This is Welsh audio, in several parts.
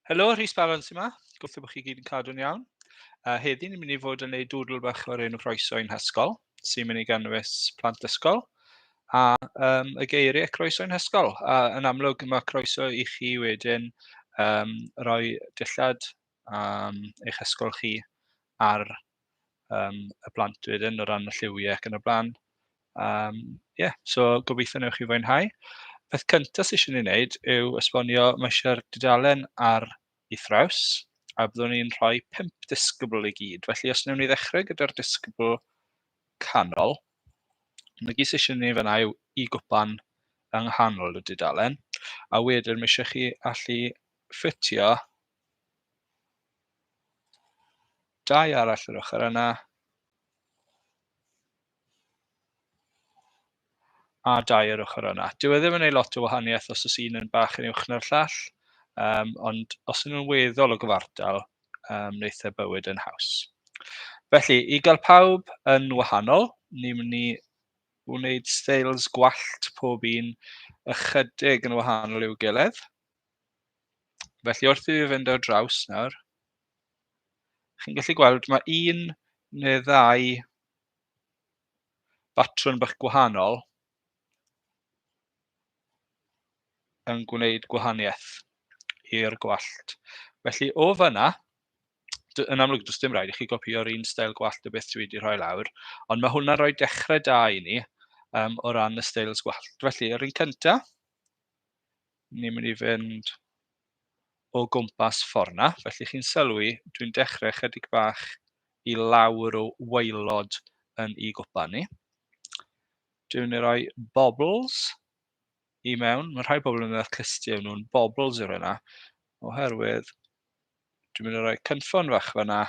Helo, Rhys Baron sy'n ma. Gobeithio bod chi gyd yn cadw'n iawn. Uh, heddi ni'n mynd i fod yn gwneud dwdl bach o'r enw croeso i'n hysgol, sy'n mynd i ganwys plant ysgol, a um, y geiriau croeso i'n hysgol. A yn amlwg mae croeso i chi wedyn um, roi dillad am eich ysgol chi ar yym y plant wedyn o ran y lliwiau ac yn y blaen. Yym ie so gobeithio wnewch chi fwynhau. Peth cyntaf sy isie ni wneud yw esbonio ma' isie'r dudalen ar ei thraws a byddwn ni'n rhoi pump disgybl i gyd. Felly os wnewn ni ddechrau gyda'r disgybl canol, na gyd sy isie ni fanna yw i gwpan yng nghanol y dudalen a wedyn ma' ishe chi allu ffitio Dau arall yr ochr yna. A dau yr ochr yna. Dyw e ddim yn ei lot o wahaniaeth os oes un yn bach yn uwch na'r llall, um, ond os ydyn nhw'n weddol o gyfartal, um, wneith e bywyd yn haws. Felly, i gael pawb yn wahanol, ni'n mynd i wneud styles gwallt pob un ychydig yn wahanol i'w gilydd. Felly wrth i fi fynd ar draws nawr, chi'n gallu gweld ma' un neu ddau batrwm bach gwahanol yn gwneud gwahaniaeth i'r gwallt. Felly o fan'na, d- yn amlwg does dim rhaid i chi gopïo'r un steil gwallt o beth dwi wedi rhoi lawr, ond mae hwnna'n rhoi dechrau da i ni um, o ran y steils gwallt. Felly, yr un cyntaf, ni'n mynd i fynd o gwmpas ffordd 'na, felly chi'n sylwi dwi'n dechrau chydig bach i lawr o waelod yn i gwpan ni. Dwi'n mynd i roi bobls i mewn, mae rhai bobl yn y clusty yn nhw'n bobls i roi yna, oherwydd dwi'n mynd i roi cynffon fach fyna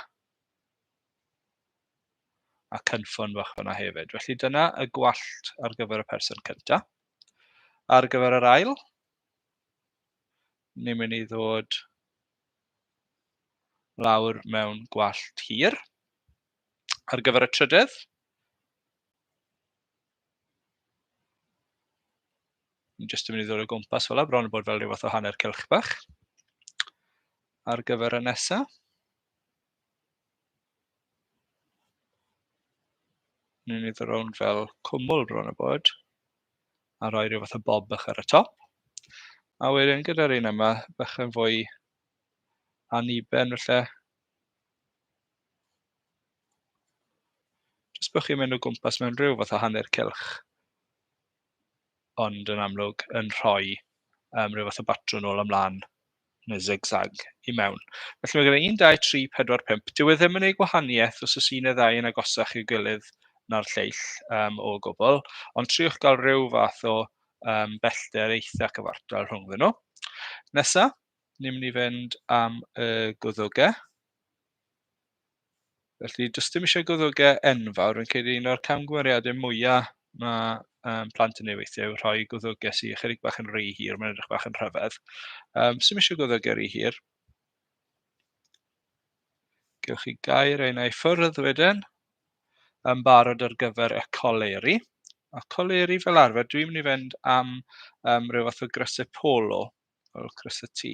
a cynffon fach fyna hefyd. Felly dyna y gwallt ar gyfer y person cyntaf. Ar gyfer yr ail, ni'n mynd i ddod lawr mewn gwallt hir. Ar gyfer y trydydd, ni'n jyst yn mynd i ddod o gwmpas fel yna, bron yn bod fel rhyw fath o hanner cylch bach. Ar gyfer y nesaf, Ni'n mynd rownd fel cwmwl bron a bod a rhoi rhyw fath o bob bach ar y top. A wedyn gyda'r un yma, bach yn fwy aniben felly. Jyst bod chi'n mynd o gwmpas mewn rhyw fath o hanner cylch. ond yn amlwg yn rhoi yym ryw fath o batrwm nôl a mlaen neu zig-zag i mewn. Felly mae gen i 1, 2, 3, 4, 5. Dyw e ddim yn ei gwahaniaeth os oes un neu ddau yn agosach i'w gilydd na'r lleill um, o gwbl, ond triwch gael rhyw fath o um, bellter eitha cyfartal rhwngddyn nhw. Nesa, ni'n mynd i fynd am y gwddwgau. Felly, does dim eisiau goddogau enfawr, fi'n credu un o'r camgymeriadau mwyaf mae um, plant yn ei weithio yw rhoi goddogau sy'n ychydig bach yn rhy hir, mae'n edrych bach yn rhyfedd. Um, Sym eisiau goddogau rhy hir. Gewch chi gair ein ei ffyrdd wedyn yn barod ar gyfer y coleri. A coleri fel arfer, dwi'n mynd i fynd am um, rhyw fath o grysau polo o gwrs y tŷ.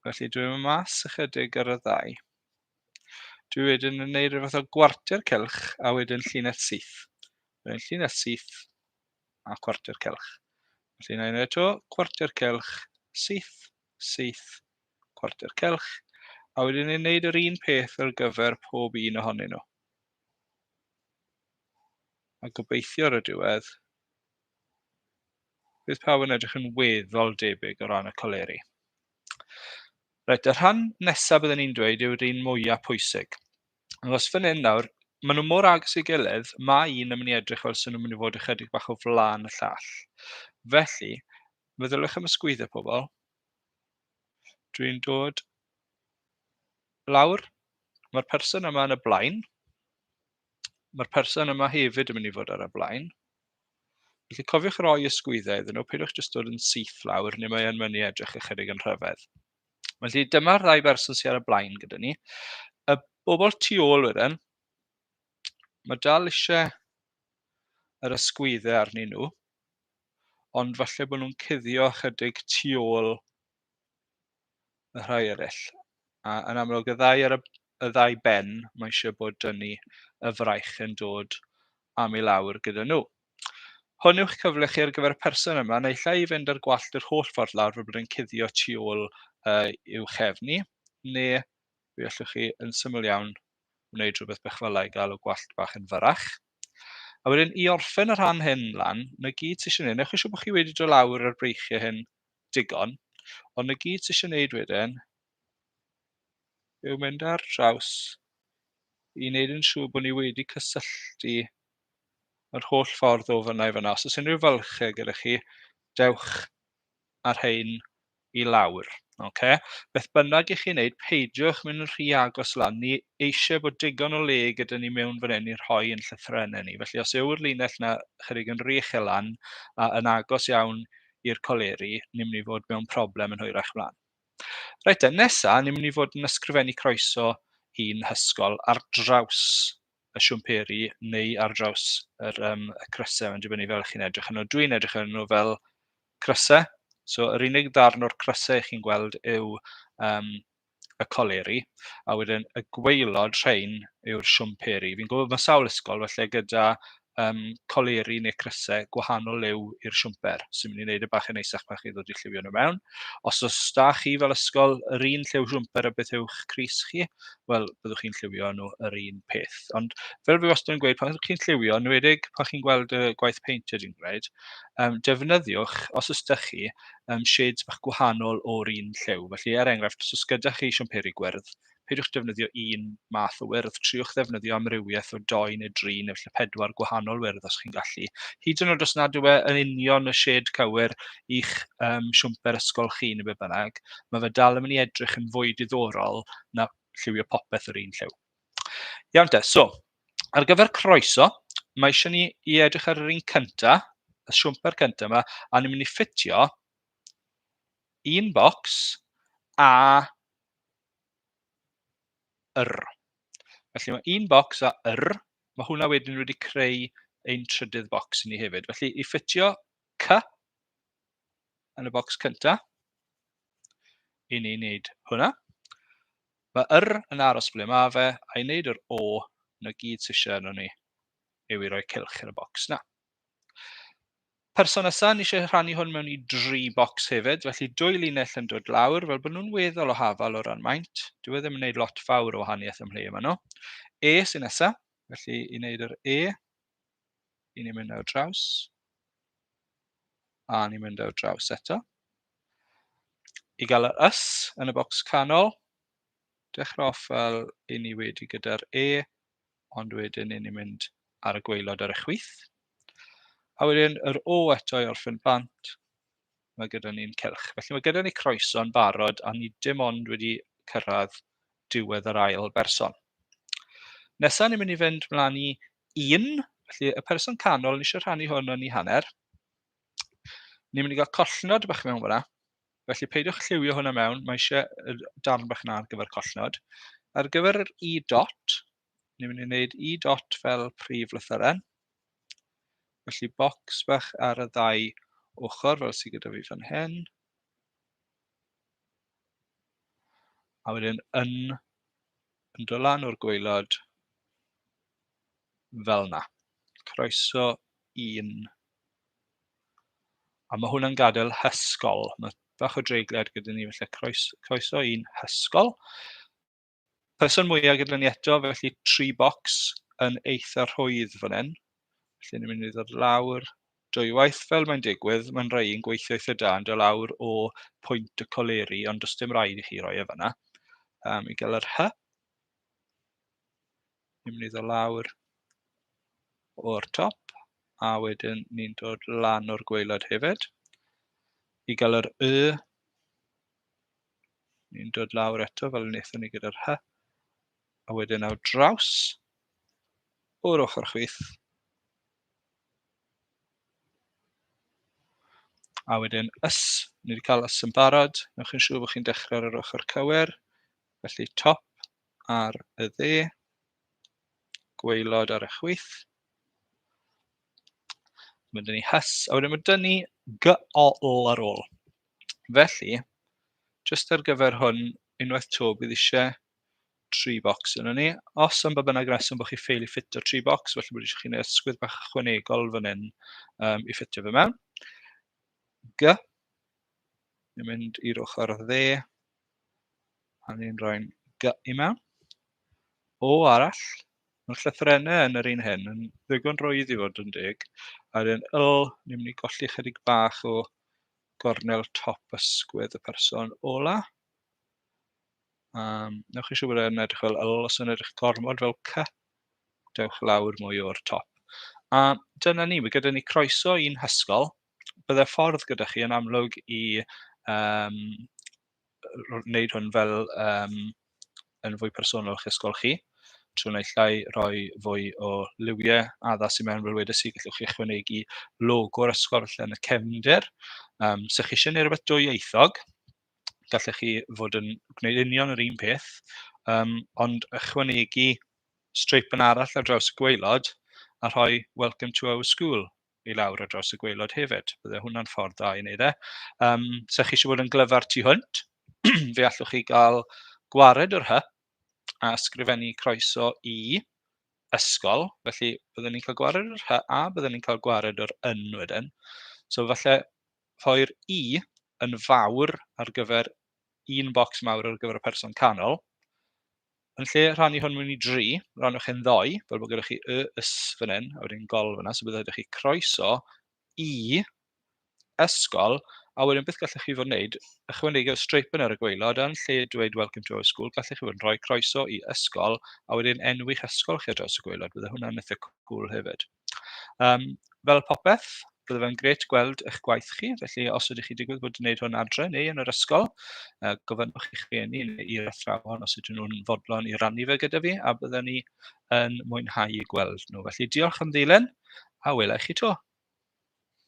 Felly dwi'n mynd mas ychydig ar y ddau. Dwi wedyn yn neud rhywbeth o gwarter celch a wedyn llinell syth. Wedyn llinell syth a cwarter celch. Felly na i'n ei eto, cwarter celch, syth, syth, cwarter celch. A wedyn ni'n neud yr un peth ar gyfer pob un ohonyn nhw. A gobeithio ar y diwedd, Bydd pawb yn edrych yn weddol debyg o ran y coleri. Reit, y rhan nesaf byddwn ni'n dweud yw'r un mwyaf pwysig. Os fan hyn nawr, maen nhw mor agos i gilydd, mae un yn mynd i edrych fel sy'n nhw'n mynd i fod ychydig bach o flaen y llall. Felly, feddyliwch am y sgwyddo pobl. Dwi'n dod lawr. Mae'r person yma yn y blaen. Mae'r person yma hefyd yn mynd i fod ar y blaen. Felly cofiwch roi ysgwyddau iddyn nhw, peidiwch jyst dod yn syth lawr, neu mae yn mynd i edrych ychydig yn rhyfedd. Felly dyma'r ddau berson sydd ar y blaen gyda ni. Y bobl tu ôl wedyn, mae dal eisiau yr ysgwyddau arnyn nhw, ond falle bod nhw'n cuddio chydig tu ôl y rhai eraill. A yn amlwg, y ddau ar y, y ddau ben, mae eisiau bod dynu y fraich yn dod am i lawr gyda nhw. Hwn yw'ch cyfle chi ar gyfer y person yma, neu lle i fynd ar gwallt yr holl ffordd lawr fel bod yn cuddio tu ôl uh, i'w chefn i, neu fe allwch chi yn syml iawn wneud rhywbeth bach fel ei gael o gwallt bach yn fyrach. A wedyn i orffen y rhan hyn lan, na gyd sy'n eisiau gwneud, newch eisiau bod chi wedi dod lawr ar breichiau hyn digon. Ond y gyd sy'n eisiau wneud wedyn yw mynd ar draws i wneud yn siŵr bod ni wedi cysylltu yr holl ffordd o fyna i fyna. Os oes unrhyw fylchau gyda chi, dewch ar hein i lawr. Okay? Beth bynnag i chi wneud, peidiwch mynd yn rhy agos lan. Ni eisiau bod digon o le gyda ni mewn fan hyn i rhoi yn llythrenau ni. Felly os yw'r linell yna chydig yn rych e lan a yn agos iawn i'r coleri, ni'n mynd i fod mewn problem yn hwyrach mlaen. Reit te, nesa, ni'n mynd i fod yn ysgrifennu croeso i'n hysgol ar draws y siwmperi neu ar draws yr, um, y crysau, mae'n dibynnu fel chi'n edrych yn nhw. Dwi'n edrych yn nhw fel crysau, so yr unig ddarn o'r crysau chi'n gweld yw um, y coleri, a wedyn y gwaelod rhain yw'r siwmperi. Fi'n gwybod bod sawl ysgol felly gyda um, coleri neu crysau gwahanol liw i'r siwmper, sy'n mynd i wneud y e bach yn eisach pan chi ddod i lliwio nhw mewn. Os oes da chi fel ysgol yr un lliw siwmper a beth yw'ch cris chi, wel, byddwch chi'n lliwio nhw yr un peth. Ond fel fi wastad yn gweud, pan ydych chi'n lliwio, enwedig pan chi'n gweld y gwaith peint ydyn gwneud, um, defnyddiwch, os ydych chi, um, shades bach gwahanol o'r un lliw. Felly, er enghraifft, os gyda chi siamperi gwyrdd, peidiwch defnyddio un math o wyrdd, triwch ddefnyddio amrywiaeth o doi neu dri neu felly pedwar gwahanol wyrdd os chi'n gallu. Hyd yn oed os nad yw e yn union y shed cywir i'ch um, siwmper ysgol chi neu be bynnag, mae fe dal yn mynd i edrych yn fwy diddorol na lliwio popeth yr un lliw. Iawn te, so, ar gyfer croeso, mae eisiau ni i edrych ar yr un cynta, y siwmper cynta yma, a ni'n mynd i ffitio un bocs a yr. Felly mae un bocs a yr, mae hwnna wedyn wedi creu ein trydydd bocs i ni hefyd. Felly i ffitio cy, yn y bocs cynta i ni wneud hwnna. Mae yr yn aros ble mae fe, a i wneud yr o, na gyd sy'n eisiau arno ni yw i roi cilch yn y bocs na. Person nesaf, ni eisiau rhannu hwn mewn i dri bocs hefyd, felly dwy linell yn dod lawr, fel bod nhw'n weddol o hafal o ran maint. Dwi e ddim yn gwneud lot fawr o wahaniaeth ymhle yma nhw. E sy'n nesaf, felly i wneud yr E, 'y ni'n mynd ar draws a ni'n mynd ar draws eto i gael yr ys yn y bocs canol, dechrau off fel 'y ni wedi gyda'r e, ond wedyn 'y ni'n mynd ar y gwaelod ar y chwith, a wedyn yr o eto i orffen bant. ma' gyda ni'n cylch. Felly ma' gyda ni croeso yn barod a ni dim ond wedi cyrraedd diwedd yr ail berson. Nesa ni'n mynd i fynd mlaen i un, felly y person canol, ni eisiau rhannu hwn yn ei hanner. Ni'n mynd i gael collnod bach mewn fyna, felly peidiwch lliwio hwnna mewn, mae eisiau darn bach yna ar gyfer collnod. Ar gyfer yr i dot, ni'n mynd i wneud Y dot fel prif lythyren, felly bocs bach ar y ddau ochr fel sydd gyda fi fan hyn, a wedyn yn yn dod lan o'r gwaelod fel yna. Croeso un. A mae hwnna'n gadael hysgol. Mae bach o dreigliad gyda ni, felly croes, croeso un hysgol. Person mwyaf gyda ni eto, felly tri bocs yn eitha rhwydd fan hyn. Felly ni'n mynd i ddod lawr dwywaith fel mae'n digwydd, mae'n rhai yn gweithio eitha da yn dod lawr o pwynt y coleri, ond does dim rhaid i chi roi e fanna. Um, I gael yr hy. Ni'n mynd i ddod lawr o'r top, a wedyn ni'n dod lan o'r gweilad hefyd. I gael yr y, Ni'n dod lawr eto fel wnaethon ni gyda'r hy. A wedyn ar draws o'r ochr chwith. A wedyn ys, ni wedi cael ys yn barod. Newch chi'n siŵr bod chi'n dechrau ar yr ochr cywir. Felly top ar y dde, gweilod ar y chwith. Mae dyn ni hys, a wedyn mae dyn ni gol ar ôl. Felly, jyst ar gyfer hwn, unwaith 'to bydd eisiau tri bocs yno ni. Os am ba bynnag reswm bod chi ffeili ffitio tri bocs, felly bod eisiau chi wneud ysgwydd bach ychwanegol fan hyn um, i ffitio fe mewn. G. Ni'n mynd i'r ochr dde, a ni'n rhoi'n G i mewn. O arall, mae'r llythrennau yn yr un hyn yn ddigon rwydd i fod yn deg, a'r un L, ni'n mynd i golli chydig bach o gornel top ysgwydd y person ola. Um, newch chi siw bod e'n edrych fel L, os yn edrych gormod fel C, dewch lawr mwy o'r top. A dyna ni, mae gyda ni croeso i'n hysgol. Byddai ffordd gyda chi yn amlwg i um, wneud hwn fel yym yn fwy personol i'ch ysgol chi trwy naill ai rhoi fwy o liwiau addas i mewn fel wedes i gallwch chi ychwanegu logo'r ysgol falle yn y cefndir yym 'sa chi isie wneud rhywbeth dwyieithog gallech chi fod yn gwneud union yr un peth yym ond ychwanegu streipen arall ar draws y gwaelod a rhoi 'welcome to our school'. i lawr ar draws y gwaelod hefyd. Bydde hwnna'n ffordd dda i wneud e. Um, sa chi eisiau bod yn glyfar tu hwnt, fe allwch chi gael gwared o'r hy a sgrifennu croeso i ysgol. Felly byddwn ni'n cael gwared o'r hy a byddwn ni'n cael gwared o'r yn wedyn. So falle rhoi'r i yn fawr ar gyfer un bocs mawr ar gyfer y person canol, Yn lle rhannu hwn mewn i dri, rhannwch e'n ddoe, fel bod gyda chi y, ys fan hyn, a wedyn gol fanna, so bydd rhaid i chi croeso i ysgol, a wedyn beth gallwch chi fod yn gwneud, ychwanegu'r streip yna ar y gweilod, yn lle dweud welcome to our school, gallwch chi fod yn rhoi croeso i ysgol, a wedyn enwi'ch ysgol chi ar draws y gweilod, bydd hwnna'n eitha cwl hefyd. Yym fel popeth, bydde fe'n grêt gweld eich gwaith chi, felly os ydych chi'n digwydd bod yn gwneud hwn adre neu yn yr ysgol, yy gofynnwch i'ch rhieni neu i'r athrawon os ydyn nhw'n fodlon i rannu fe gyda fi, a byddwn ni yn mwynhau eu gweld nhw. Felly diolch am ddilyn, a wela i chi 'to.